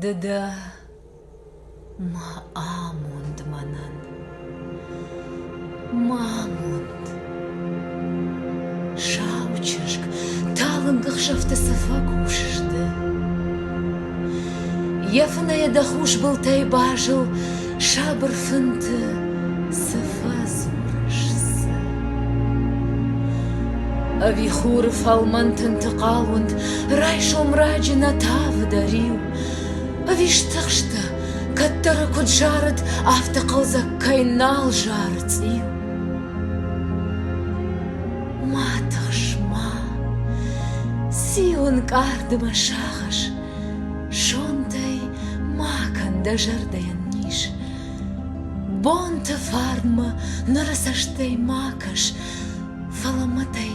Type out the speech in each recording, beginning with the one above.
Ды дӕ ма амонд мӕнӕн, ма амонд. Сау чызг, талынг ӕхсӕвты цӕфӕ кусыс ды. Йӕ фынӕйӕ дӕ хус былтӕй базыл Сабыр фынты цы фӕдзурыс, цы? Ӕви хуры фӕлмӕн тынты хъалунд райсом раджы нӕ тавы дӕ риу? Ӕви стыхстӕ, кӕддӕры куыд зарыд, афтӕ хъӕлдзӕг кӕй нал зары цъиу? Ма тыхс, ма, циу ӕнкъард ӕмӕ сагъӕс, Зондӕй ма кӕн дӕ зӕрдӕйӕн низ. Бонты фарнмӕ ныры цӕстӕй ма кӕс, Фӕлӕ мӕтӕй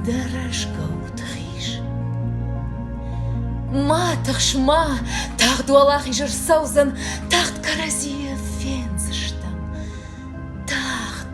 дӕ рӕзгӕуты хиз. Ма тыхс, ма, тагъд уӕлахиз ӕрцӕудзӕн, Тагъд кӕрӕдзийы фендзыстӕм. Тагъд!